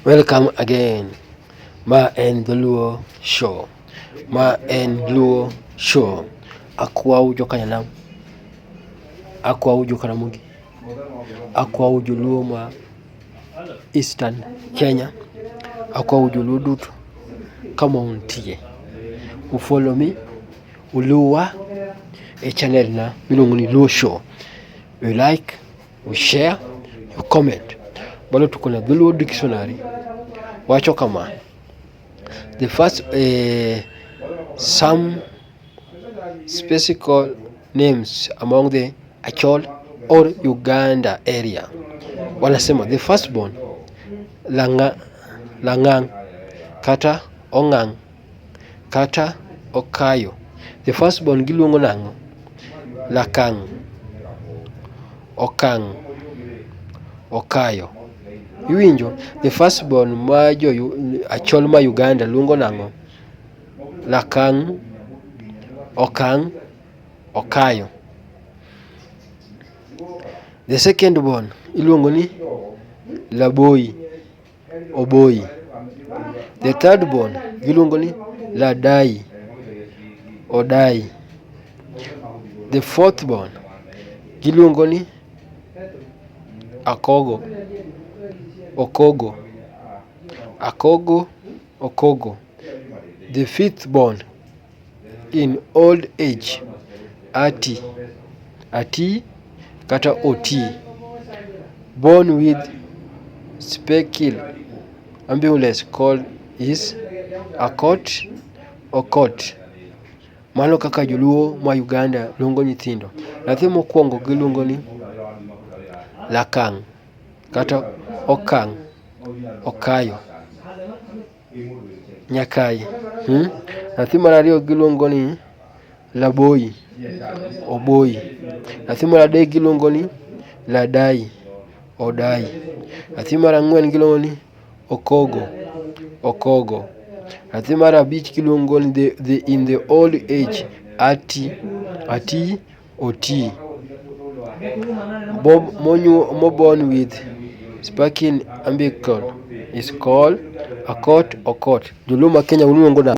Welcome again. Ma en Dholuo Show. Ma en Luo Show. Akwau jokanyanam. Akwau jokaramogi. Akwau joluo ma Eastern Kenya. Akwau joluo duto kama untie. U follow me. Uluwa e channel na miluongo ni Luo Show. You like You share, you comment. Bado tuko na Dhuluo Dictionary. Wacho kama. The first uh, some specific names among the Achol or Uganda area. Wanasema the first born Langa, Langang kata Ongang kata okayo. The first born giluongo nang'o? Lakang'. Okang'. Okayo. Iwinjo? The first born ma jo achol ma Uganda luongo nang'o? Lakang'. Okang'. Okayo. The second born iluongo ni Laboi. Oboi. The third born giluongo ni Ladai, Odai. The fourth born giluongo ni Akogo, Okogo. Akogo, Okogo. The fifth born. in old age ati, ati kata otii. Born with specil ambulance call is akot, okot. Mano kaka joluo ma Uganda luongo nyithindo. Nyathi mokwongo giluongo ni lakang' kata okang', okayo. Nyakayi. Hmm? Nyathi mar ariyo giluongo ni Laboyi, Oboyi. Nyathi mar adek giluongo ni Ladayi, Odayi. Nyathi mar ang'wen giluongo ni Okogo, Okogo. Nyathi mar abich giluongo ni the, the, in the old age Ati, Ati oti. Bob moborn with speckled ambicle is called a coat or coat. Joluo ma Kenya uluongo nade?